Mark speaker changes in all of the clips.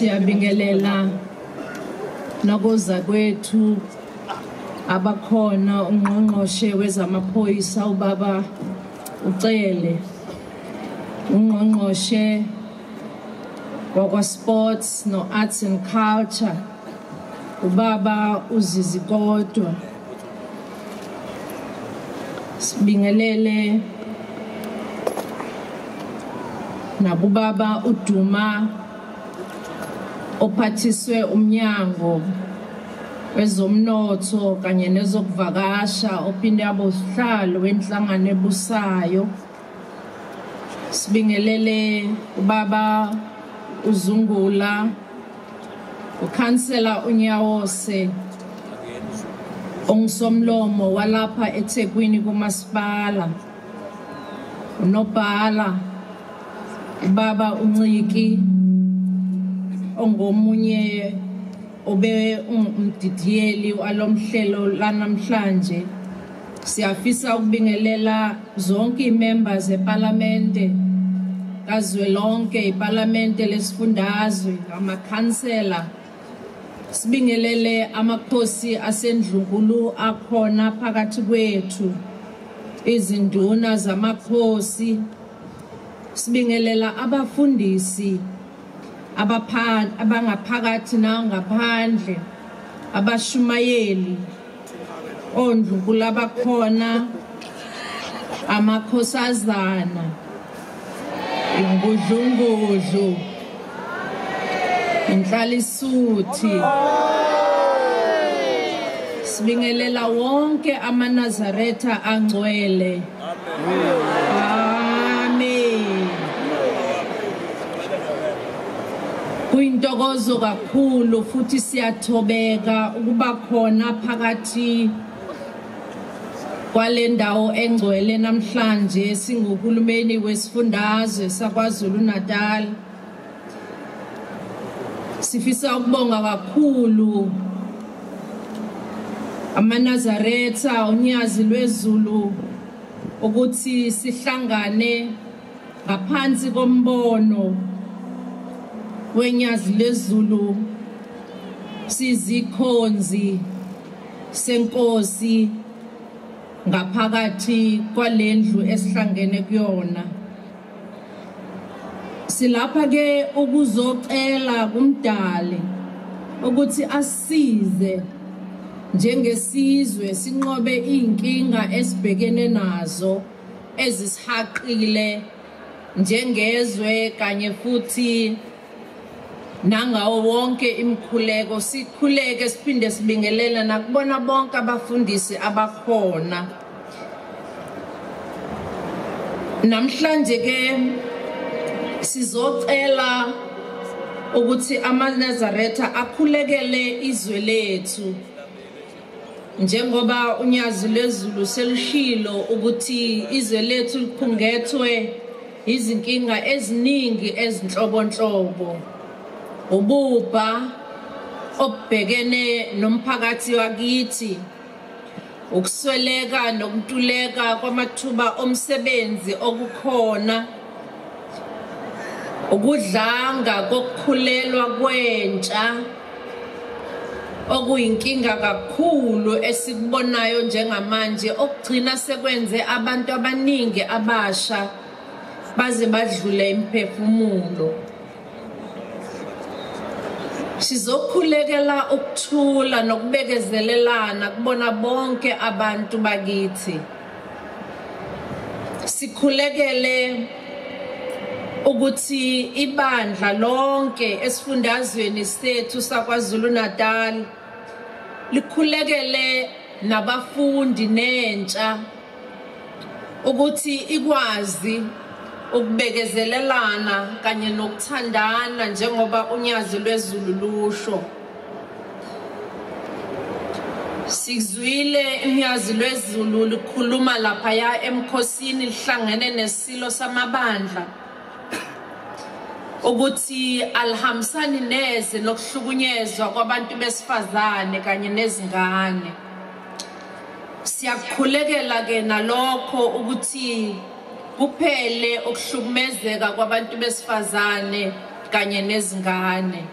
Speaker 1: siyabingelela nakoza kwethu abakhona ungqongqoshe wezamaphoyisa ubaba ucele ungqongqoshe wakwa-sports no-arts and culture ubaba uzizi kodwa sibingelele nakubaba uduma ophathiswe umnyango wezomnotho kanye nezokuvakasha ophinde abosihlalo wenhlangano ebusayo sibingelele ubaba uzungula ukhansela unyawose ongisomlomo walapha ethekwini kumasipala unobhala ubaba unciki ongomunye obe umdidiyeli walomhlelo lanamhlanje siyafisa ukubingelela zonke imember zeparlamente kazwelonke iparlamente lesifundazwe amakhansela sibingelele amakhosi asendlunkulu akhona phakathi kwethu izinduna zamakhosi sibingelela abafundisi abangaphakathi nangaphandle abashumayeli ondlukula bakhona amakhosazana ingudlungudlu inhlalisuthi sibingelela wonke amanazaretha angcwele Kuyintokozo kakhulu futhi siyathobeka ukuba khona phakathi kwale ndawo engcwele namhlanje singuhulumeni wesifundazwe saKwaZulu-Natal. sifisa ukubonga kakhulu amanazaretha unyazi lwezulu ukuthi sihlangane ngaphansi kombono wenyazi lezulu sizikhonzi senkosi ngaphakathi kwalendlu esihlangene kuyona silapha ke ukuzocela kumdali ukuthi asize njengesizwe sinqobe izinkinga esibhekene nazo ezisihaqile njengezwe kanye futhi nangawo wonke imikhuleko sikhuleke siphinde sibingelela nakubona bonke abafundisi abakhona namhlanje ke sizocela ukuthi amaNazaretha akhulekele izwe lethu njengoba unyazi lwezulu selushilo ukuthi izwe lethu liphungethwe izinkinga eziningi ezinhlobonhlobo ububha obhekene nomphakathi wakithi ukusweleka nokuntuleka kwamathuba omsebenzi okukhona ukudlanga kokukhulelwa kwentsha okuyinkinga kakhulu esikubonayo njengamanje okugcina sekwenze abantu abaningi abasha baze badlule imphefumulo sizokhulekela ukuthula nokubekezelelana kubona bonke abantu bakithi sikhulekele ukuthi ibandla lonke esifundazweni sethu saKwaZulu-Natal likhulekele nabafundi nentsha ukuthi ikwazi ukubekezelelana kanye nokuthandana njengoba unyazi lwezulu lusho Sizwile imyazi lwezulu likhuluma laphaya emkhosini lihlangene nesilo samabandla ukuthi alihambisani neze nokuhlukunyezwa kwabantu besifazane kanye nezingane siyakukhulekela ke nalokho ukuthi kuphele ukuhlukumezeka kwabantu besifazane kanye nezingane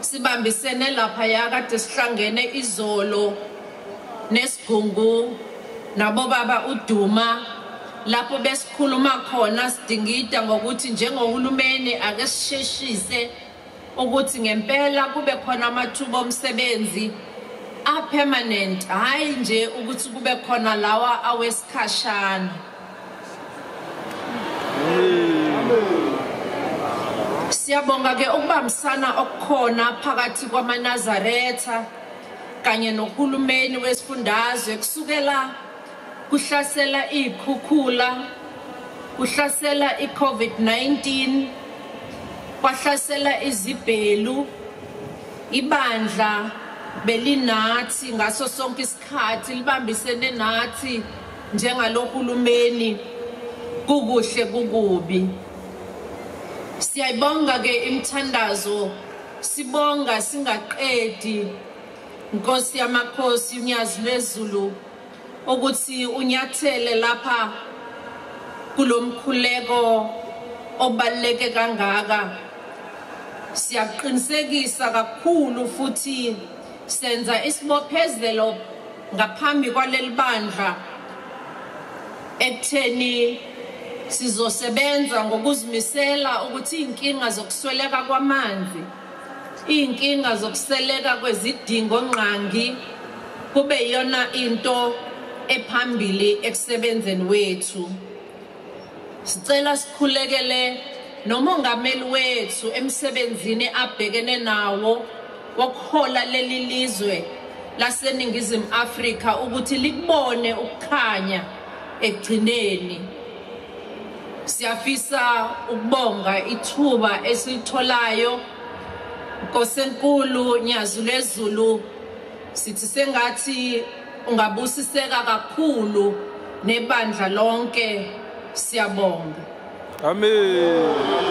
Speaker 1: Sibambisene laphaya kade sihlangene izolo nesigungu nabobaba uDuma lapho besikhuluma khona sidingida ngokuthi njengohulumeni ake sisheshise ukuthi ngempela kube khona amathuba omsebenzi apermanent hhayi nje ukuthi kube khona lawa awesikhashana Siyabonga ke ukubambisana okukhona phakathi kwamaNazaretha kanye nohulumeni wesifundazwe kusukela kuhlasela izikhukhula kuhlasela iCovid-19 kwahlasela izibhelu ibandla belinathi ngaso sonke Khathi libambisene nathi njengaloHulumeni kukuhle kukubi. Siyayibonga ke imithandazo sibonga singaqedi Nkosi yamakhosi unyazi lwezulu ukuthi unyathele lapha kulomkhuleko obaleke kangaka siyakuqinisekisa kakhulu futhi Senza isibophezelo ngaphambi kwaleli bandla ekutheni sizosebenza ngokuzimisela ukuthi izinkinga zokusweleka kwamanzi izinkinga zokuseleka kwezidingo ngqangi kube iyona into ephambili ekusebenzeni wethu Sicela sikhulekele nomongameli wethu emsebenzini abhekene nawo wokuhola leli lizwe laseNingizimu Afrika ukuthi likubone ukukhanya ekugcineni. Siyafisa ukubonga ithuba esilitholayo Nkosi enkulu Nyazi lezulu sithi sengathi Ungabusiseka kakhulu nebandla lonke siyabonga.
Speaker 2: Amen.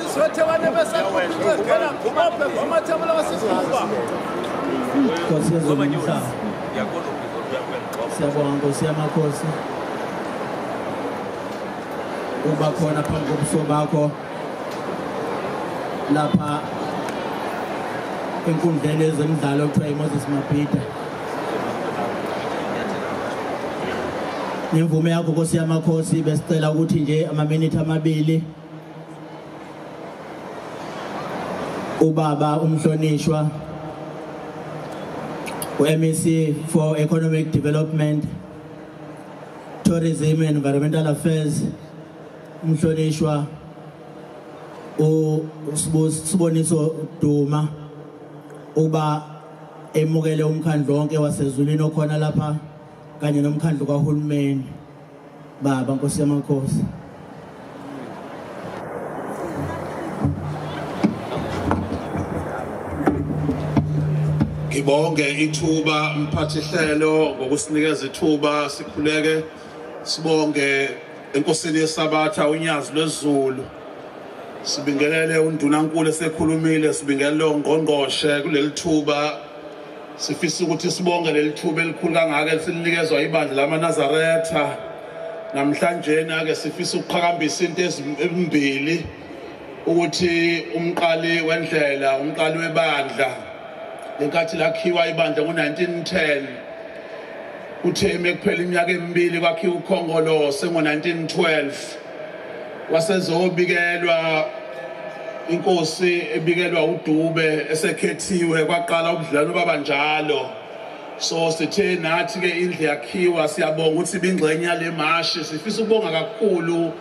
Speaker 3: Nkosi yezulu umhlaba. Siyabonga Nkosi yamakhosi. Uba khona phambi kobuso bakho lapha enkundleni yezemidlalo kuthiwa iMoses Mabhida. Ngemvume yakho Nkosi yamakhosi besicela ukuthi nje amaminithi amabili ubaba umhlonishwa uMEC for Economic Development Tourism and Environmental Affairs umhlonishwa usiboniso Duma uba emukele umkhandlo wonke wasezulwini okhona lapha kanye nomkhandlo kahulumeni baba nkosi yamakhosi
Speaker 4: ngibonge ithuba mphathi hlelo ngokusinikeza ithuba sikhuleke sibonge enkosini yesabatha unyazi lwezulu sibingelele undunankulu esekhulumile sibingelele ongqongqoshe kuleli thuba Sifisa ukuthi sibonge leli thuba elikhulu kangaka esilinikezwa ibandla lamaNazaretha namhlanjeni ake sifisa ukuqhakambisa into ezimbili ukuthi umqali wendlela umqali webandla lenkathi lakhiwa ibandla ngo-1910 uthe ekuphela iminyaka emibili kwakhiwa ukhongolose ngo-1912 wasezobikelwa inkosi ebikelwa uDube esekhethiwe kwaqala ubudlalo baba njalo so sithe nathi ke indle yakhiwa siyabonga ukuthi bingxenye yale mashi sifisa ukubonga kakhulu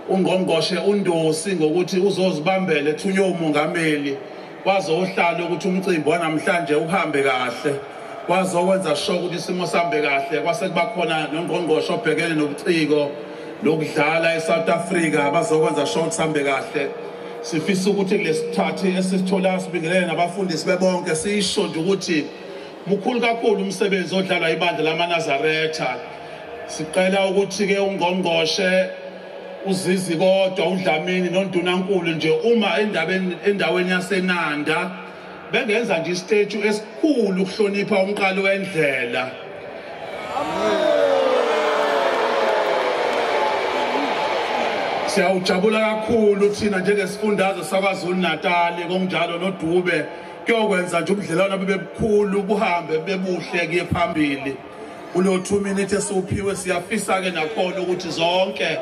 Speaker 4: ungqongqoshe uNdosi ngokuthi uzozibambela ethunywe umongameli Kwazohlala ukuthi umcimbi wanamhlanje uhambe kahle. Kwazokwenza sho ukuthi isimo sambe kahle kwase kuba khona nongqongqosho obhekene nobuciko lokudlala eSouth Africa bazokwenza sho ukuthi sambe kahle. Sifisa ukuthi kulesithathi esisithola sibingelele nabafundisi bebonke sisho nje ukuthi mukhulu kakhulu umsebenzi odlalwa ibandla lamaNazaretha. Sicela ukuthi ke ungqongqoshe uzizi kodwa udlamini nondunankulu nje uma endaweni yasenanda bengenza nje isiteju esikhulu ukuhlonipha umqali wendlela siyawujabula kakhulu thina njengesifundazwe sakwazulu natali konjalo nodube kuyokwenza nje ubudlelwano bebebukhulu buhambe bebuhle kuye phambili kulo 2 minute esiwuphiwe siyafisa ke nakhona ukuthi zonke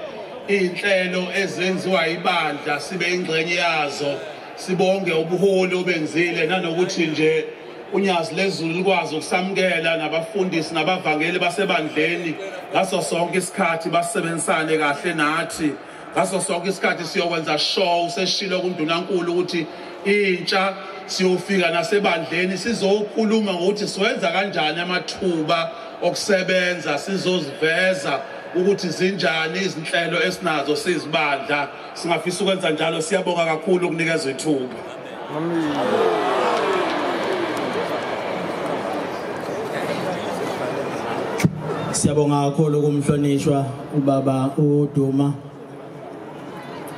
Speaker 4: izinhlelo ezenziwa ibandla sibe ingxenye yazo sibonge ubuholi obenzile nanokuthi nje unyazi lezulu likwazi ukusamukela nabafundisi nabavangeli basebandleni ngaso sonke isikhathi basebenzisane kahle nathi ngaso sonke isikhathi siyokwenza show useshilo kundunankulu ukuthi intsha siyofika nasebandleni sizokhuluma ngokuthi siwenza kanjani amathuba okusebenza sizoziveza ukuthi zinjani izinhlelo esinazo sizibandla singafisa ukwenza njalo siyabonga kakhulu ukunikezwa ithuba
Speaker 3: Siyabonga kakhulu kumhlonishwa ubaba uDuma.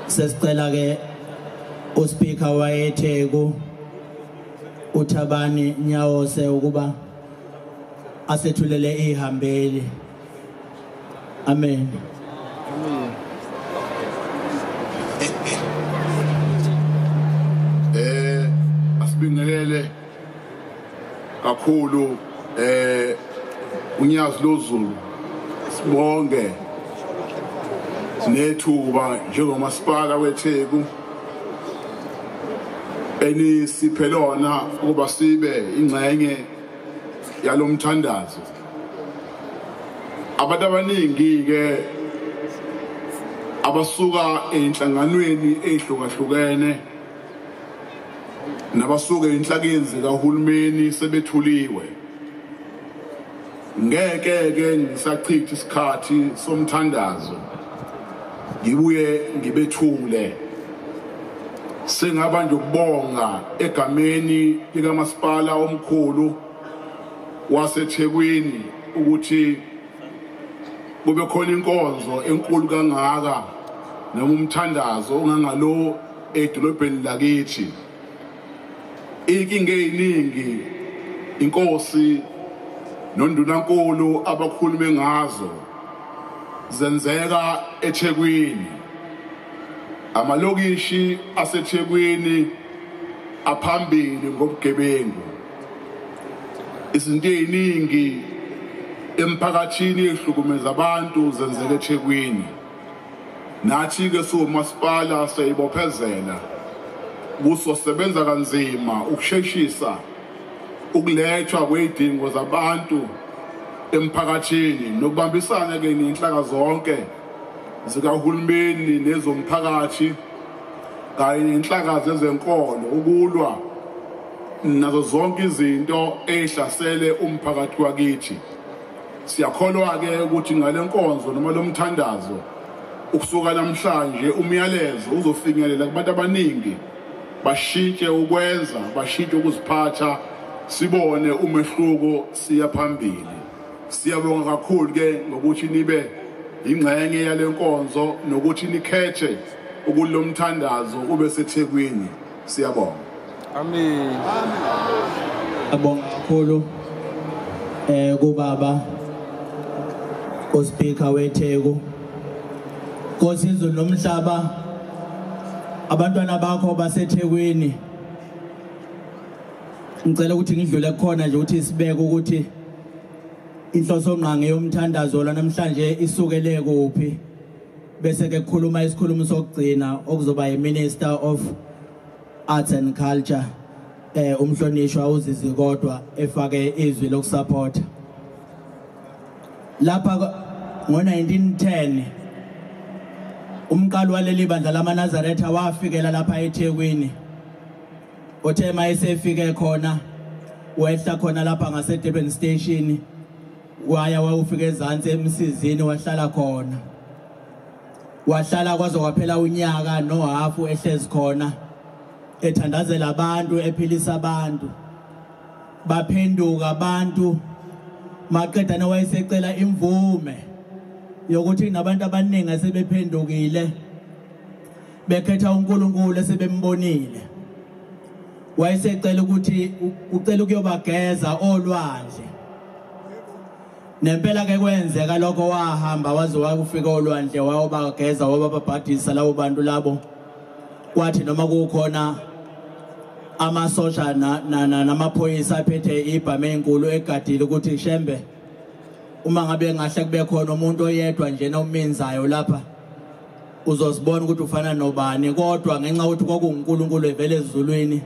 Speaker 3: Sesicela ke uSpeaker wayeTheku uThabani Nyawose ukuba asethulele ihambeli. Amen.
Speaker 5: Eh asibingelele kakhulu eh unyazi lozulu sibonge nethuba njengomasipala weTheku enisiphe lona ukuba sibe ingxenye yalomthandazo abantu abaningi-ke abasuka ey'nhlanganweni ey'hlukahlukene nabasuke inhlakeni zikahulumeni sebethuliwe ngeke ke ngisachitha isikhathi somthandazo ngibuye ngibethule sengaba nje ukubonga egameni likamasipala omkhulu waseThekwini ukuthi kube khona inkonzo enkulu kangaka noma umthandazo ongangalo edolobheni lakithi inkinga eyiningi inkosi nondunankulu abakhulume ngazo zenzeka eThekwini amalokishi aseThekwini aphambili ngobugebengu izinto eziningi emphakathini ehlukumeza abantu zenzeka eThekwini nathi ke siwumasipala siyibophezela kuso sebenza kanzima ukusheshisa ukulethwa kwezidingo zabantu emphakathini nokubambisana ke nenhlaka zonke zikahulumeni nezomphakathi kanye nenhlaka zezenkolo ukulwa nazo zonke izinto ezihlasele umphakathi wakithi siyakholwa-ke ukuthi ngale nkonzo noma lo mthandazo ukusuka namhlanje umyalezo uzofinyelela kubantu abaningi bashintshe ukwenza bashintshe ukuziphatha sibone umehluko siya phambili siyabonga kakhulu ke ngokuthi nibe ingxenye yale nkonzo nokuthi nikhethe ukulomthandazo ube sethekwini siyabonga
Speaker 2: amen
Speaker 3: abonga kakhulu eh kubaba ospeaker weTheku Nkosi izulu nomhlaba abantwana bakho baseThekwini ngicela ukuthi ngidlule khona nje ukuthi sibeke ukuthi inhloso ngqangi yomthandazo la namhlanje isukele kuphi bese ke kukhuluma isikhulumi sokugcina okuzoba yiminister of arts and culture eh umhlonishwa uzizi kodwa efake izwi lokusupporta lapha ngo-1910 umqali waleli bandla lamanazaretha wafikela lapha ethekwini othe uma esefike khona wehla khona lapha ngasedurban station waya wawufika ezansi emsizini wahlala khona wahlala kwaze kwaphela unyaka nohafu ehlezi khona ethandazela abantu ephilisa abantu baphenduka abantu maqedane wayesecela imvume yokuthi nabantu abaningi asebephendukile bekhetha uNkulunkulu esebembonile wayesecela ukuthi ucela ukuyobageza olwandle nempela ke kwenzeka lokho wahamba waze wakufika olwandle wayobageza wabababhadisa labo bantu labo kwathi noma kukhona amasosha namaphoyisa aphethe ibhame enkulu egadile ukuthi shembe uma ngabe ngahle kube khona umuntu oyedwa nje nominzayo lapha uzozibona ukuthi ufana nobani kodwa ngenxa yokuthi kwakunguNkulunkulu evele ezulwini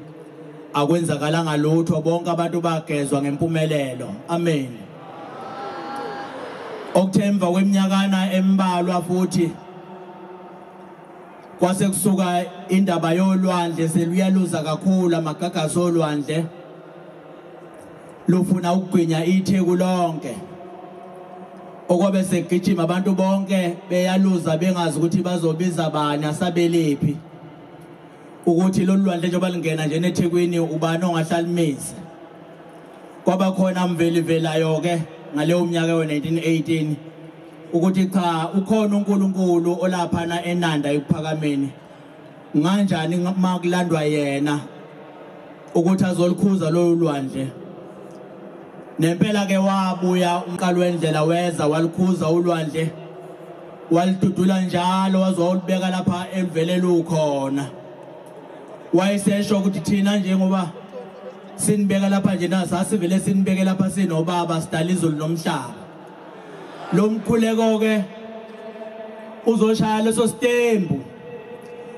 Speaker 3: akwenzakalanga lutho bonke abantu bagezwa ngempumelelo amen okuthemva kweminyakana embalwa futhi kwase kusuka indaba yolwandle seluyaluza kakhulu amagagasi olwandle lufuna ukugwinya itheku lonke okobe segijima abantu bonke beyaluza bengazi ukuthi bazobiza bani asabelephi ukuthi lolu lwandle njengoba lingena nje nethekwini ubani ongahlalimisa kwaba khona mvelivelayo-ke ngaleyo mnyaka yo-1918 ukuthi cha ukhona unkulunkulu olaphana enanda ekuphakameni nganjani uma kulandwa yena ukuthi azolukhuza lolu lwandle nempela ke wabuya umqalo wendlela weza walukhuza ulwandle walidudula njalo waze wawulibeka lapha eluvele lukhona wayesesho ukuthi thina njengoba sinibeka lapha nje na sasivele sinibeke lapha sinobaba sidala izulu nomhlaba lo mkhuleko ke uzoshaya leso sitembu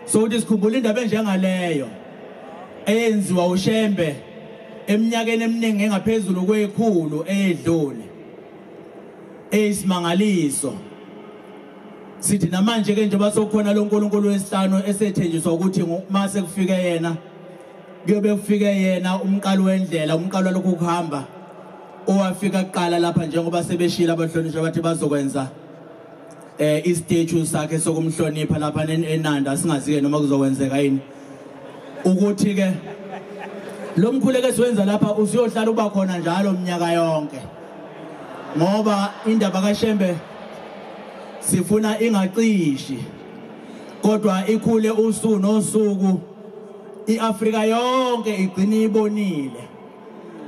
Speaker 3: sokuthi sikhumbula indaba enjengaleyo eyenziwa uShembe eminyakeni eminingi engaphezulu kwekhulu eyedlule eyisimangaliso sithi namanje ke njengoba sokhona lo nkulunkulu wesihlanu esethenjiswa ukuthi uma sekufike yena kuyobe kufike yena umqalo wendlela umqalo lokhu kuhamba owafika kuqala lapha njengoba sebeshila abahlonishwa bathi bazokwenza eh istatue sakhe sokumhlonipha lapha enanda singazi ke noma kuzokwenzeka yini ukuthi ke lo mkhuleko esiwenza lapha usiyohlala uba khona njalo mnyaka yonke ngoba indaba kaShembe sifuna ingacishi kodwa ikhule usuku nosuku iAfrika yonke igcina ibonile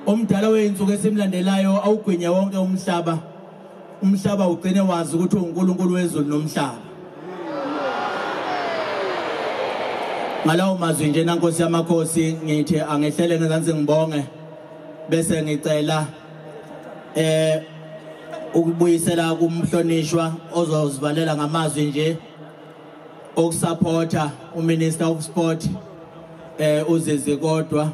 Speaker 3: Umdala wey'nsuku esimlandelayo awugwinye wonke umhlaba. Umhlaba ugcine wazi ukuthi uNkulunkulu wezulu nomhlaba. Ngalawo mazwi nje nankosi yamakhosi ngithi angehlele ngezansi ngibonge bese ngicela eh ukubuyisela kumhlonishwa ozosivalela ngamazwi nje ukusupporta uminister of sport eh uzizi kodwa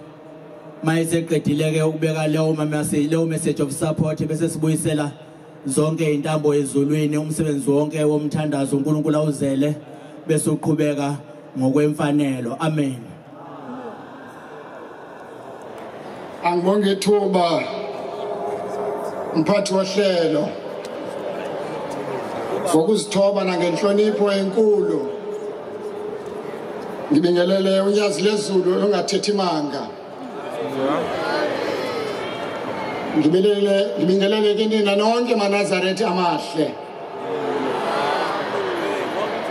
Speaker 3: mayeseqedile ke ukubeka leyo message leyo message of support bese sibuyisela zonke intambo ezulwini umsebenzi wonke womthandazo uNkulunkulu awuzele bese uqhubeka ngokwemfanelo amen
Speaker 6: angibonge ithuba mphathi wohlelo ngokuzithoba nangenhlonipho enkulu ngibingelele unyazi lezulu olungathethi manga ngibingelele kinina nonke manazarethi amahle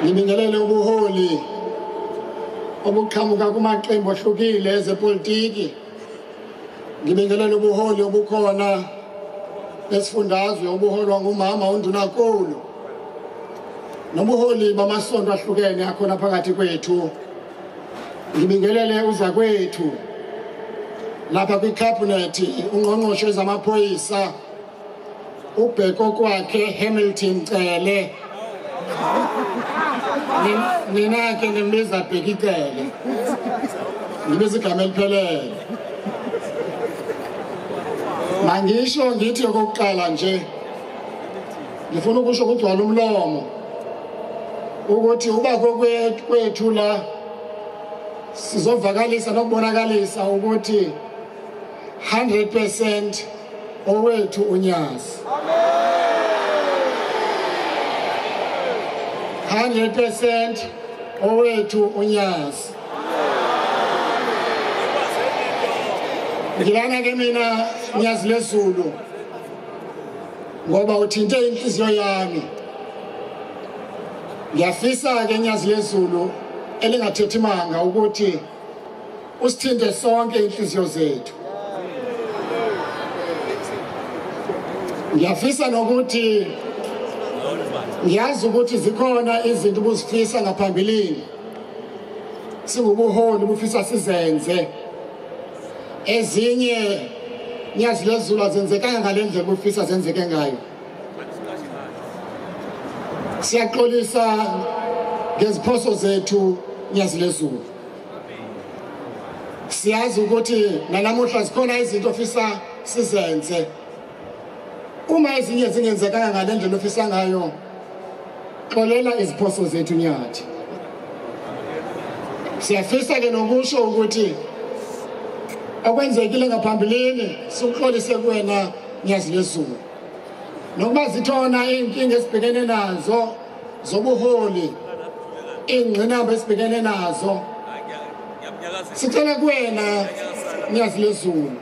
Speaker 6: ngibingelele ubuholi obuqhamuka kumaqembu ahlukile ezepolitiki ngibingelele ubuholi obukhona besifundazwe obuholwa ngumama undunakulu nobuholi bamasonto ahlukene akhona phakathi kwethu ngibingelele uzakwethu lapha kwikhabhinethi ungqongqoshe zamaphoyisa ubheko kwakhe Hamilton Cele nina ke nimbiza Bheki Cele ngibiza igama eliphelele mangisho ngithi okokuqala nje ngifuna ukusho ukugcwala umlomo ukuthi uba kwethu la sizovakalisa nokubonakalisa ukuthi 100% owethu unyazi 100% owethu unyazi ngilana ke mina nyazi lezulu ngoba uthinte inhliziyo yami ngiyafisa ke nyazi lezulu elingathethi manga ukuthi usithinte sonke inhliziyo zethu ngiyafisa nokuthi ngiyazi ukuthi zikhona izinto ubuzifisa ngaphambilini singubuholi bufisa sizenze ezinye nyazi lezulu azenzekanga ngale ndlela ubufisa zenzeke ngayo siyaxolisa ngeziphoso zethu nyazi lezulu siyazi ukuthi nanamuhla zikhona izinto ofisa sizenze uma ezinye zingenzekanga ngale ndlela ofisa ngayo xolela iziphoso zethu nyathi siyafisa ke nokusho ukuthi okwenzekile ngaphambilini sikuxolise kuwena nyazi lezulu nokuba zithona iy'nkinga esibhekene nazo zobuholi ingqinamba esibhekene nazo sicela kuwena nyazi lezulu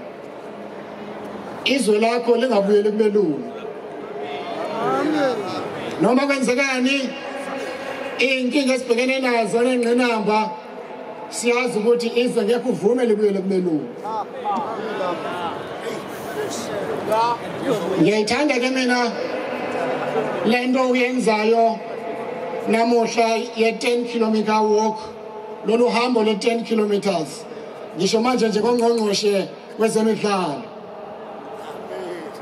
Speaker 6: izwe lakho lingabuyeli kubelungu noma kwenzekani iy'nkinga esibhekene nazo nengqinamba siyazi ukuthi izwe ngeke uvume libuyele kubelungu ngiyayithanda ke mina le nto uyenzayo namuhla ye-10 kilometer walk lolu hambo le-10 kilometers ngisho manje nje kongqongqoshe kwezemidlalo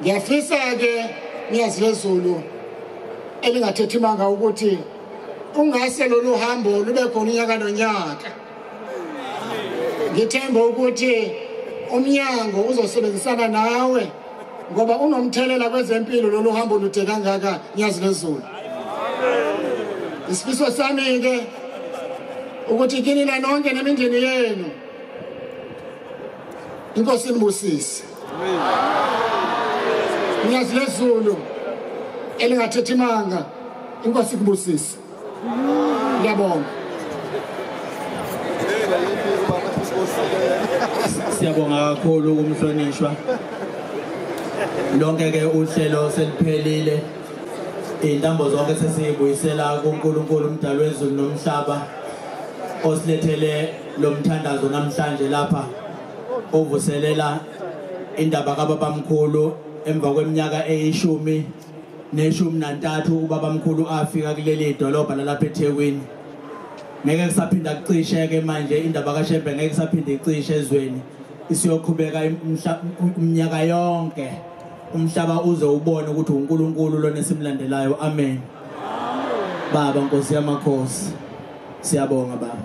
Speaker 6: ngiyafisa-ke ngiyazi lezulu elingathethi manga ukuthi Ungase lolu hambo lube khona unyaka nonyaka. Ngithemba ukuthi umnyango uzosebenzisana nawe ngoba unomthelela kwezempilo lolu hambo lude kangaka nyazi lezulu. Isifiso sami ke ukuthi kini la nonke nemindeni yenu inkosi inibusise nyazi lezulu elingathethi manga inkosi kubusise ngiyabonga
Speaker 3: siyabonga kakhulu kumhlonishwa lonke ke uhlelo seliphelile intambo zonke sesiyibuyisela kuNkulunkulu umdali wezulu nomhlaba osilethele lomthandazo namhlanje lapha uvuselela indaba kababamkhulu emva kweminyaka eyishumi neshumi nantathu ubabamkhulu afika kuleli dolobha lalapha ethekwini ngeke kusaphinda kucisheke manje indaba kashembe ngeke kusaphinde icishe ezweni isiyoqhubeka umnyaka yonke umhlaba uze ubone ukuthi uNkulunkulu lona esimlandelayo amen baba nkosi yamakhosi siyabonga baba